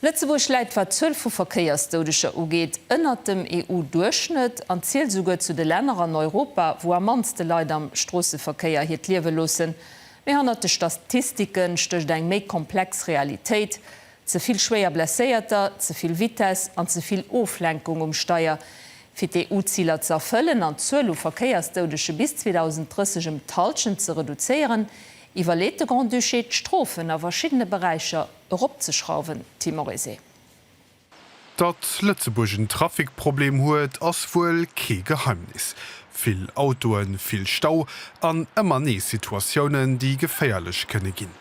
Lëtzebuerg läit, wat d'Zuel vu Verkéiersdoudeger ugeet, ënnert dem EU-Duerchschnëtt an zielt esouguer zu de Länner an Europa, wou am mannste Leit am Stroosseverkéier hiert Liewe loossen. Mee hannert de Statistike stécht eng méi komplex Realitéit, Ze vill schwéier Blesséierter, ze vill Vitess an ze vill Oflenkung um Steier, fir d'EU-Ziler ze erfëllen an d'Zuel u Verkéiersdoudege bis 2030 ëm d'Hallschent ze reduzéieren. Iwwerleet de Grand-Duché d'Strofen a verschiddene Beräicher eropzeschrauwen, Timoresé? Datt Lëtzebuerg en Trafikproblem huet, ass wuel kee Geheimnis. Vill Autoen, vill Stau an ëmmer nees Situatiounen, déi geféierlech kënne ginn.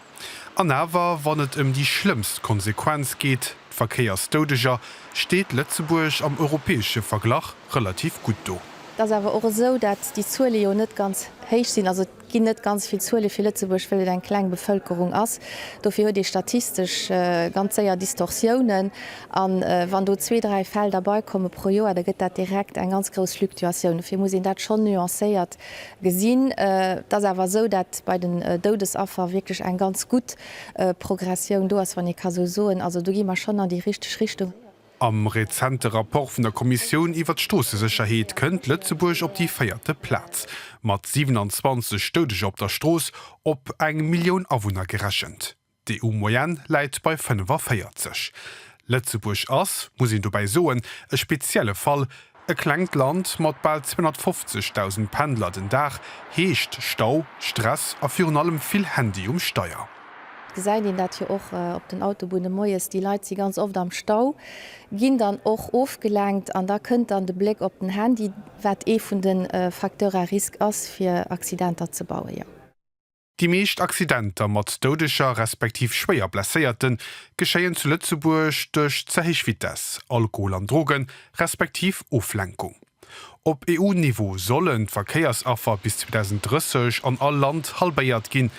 An awer, wann et ëm déi schlëmmst Konsequenz geet, d'Verkéiersdoudeger, steet Lëtzebuerg am europäesche Verglach relativ gutt do. Et ass awer och esou, datt déi Zuele jo net ganz héich sinn. Also Et ginn net ganz vill Zuele fir Lëtzebuerg, wëll et eng kleng Bevëlkerung ass. Dofir huet ee statistesch ganz séier Distorsiounen. A wann do zwee, dräi Fäll derbeikommen pro Joer, da gëtt dat direkt eng ganz grouss Fluktuatioun. Dofir muss een dat schonn nuancéiert gesinn. Et ass awer esou, dat bei den Doudesaffer wierklech eng ganz gutt Progressioun do ass, wann ee ka esou soen. Also do gi mer schonn an déi richteg Richtung. Am rezente Rapport vun der Kommissioun iwwert d'Stroossesécherheet kënnt Lëtzebuerg op déi véierte Plaz, mat 27 Doudeger op der Strooss op eng Millioun Awunner gerechent. D'EU-Moyenne läit bei 45. Lëtzebuerg ass, muss een dobäi soen, e spezielle Fall, E klengt Land mat bal 250.000 Pendler den Dag heescht Stau, Stress a virun allem vill Handy um Steier. Et gesäit een dat jo och op den Autobunne moies, déi Leit si ganz oft am Stau, ginn dann och ofgelenkt an da kënnt dann de Bléck op den Handy, wat ee vun de Facteurs à risques ass fir Accidenter ze bauen. Déi meescht Accidenter mat Doudeger respektiv schwéier Blesséierten geschéien zu Lëtzebuerg duerch ze héich Vitess, Alkohol an Drogen, respektiv Oflenkung. Op EU-Niveau sollen d'Verkéiersaffer bis 2030 an all Land halbéiert ginn.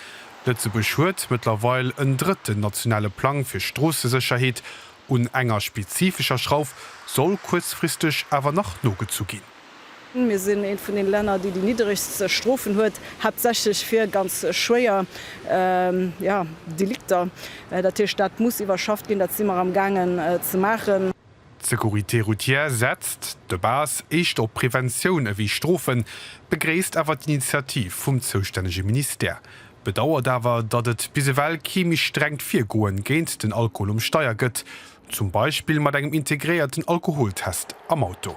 Lëtzebuerg huet mëttlerweil en drëtten nationale Plang fir Stroossesécherheet. Un enger spezifescher Schrauf soll kuerzfristeg awer nach nogezu ginn. Mir sinn eent vun den Länner déi déi nidderegst Strofen huet, haaptsächlech fir ganz schwéier Delikter. Dat heescht, dat muss iwwerschafft ginn, dat si mer am gaangen ze maachen. D'Sécurité routière setzt de base éischter op Preventioun ewéi Strofen, begréisst awer d'Initiativ vum zoustännege Ministère, bedauert awer, datt et bis ewell kee méi strengt Virgoen géint den Alkohol um Steier gëtt, Zum Beispill mat engem integréierten Alkoholtest am Auto.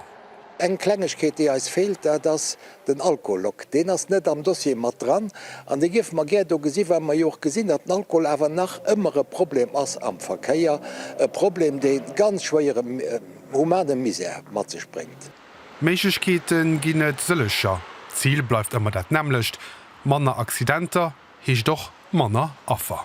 Eng Klengegkeet, déi eis feelt, dat ass den Alkolog. Deen ass net am Dossier mat dran an dee géife mer gär do gesi well mer jo och gesinn, datt den Alkohol awer nach ëmmer e Problem ass am Verkéier, e Problem, dee ganz schwéiere humane Misär mat sech bréngt. Méiglechkeete ginn et sëllecher. D'Zil bleift ëmmer dat nämmlecht, manner Accidenter heescht och manner Affer.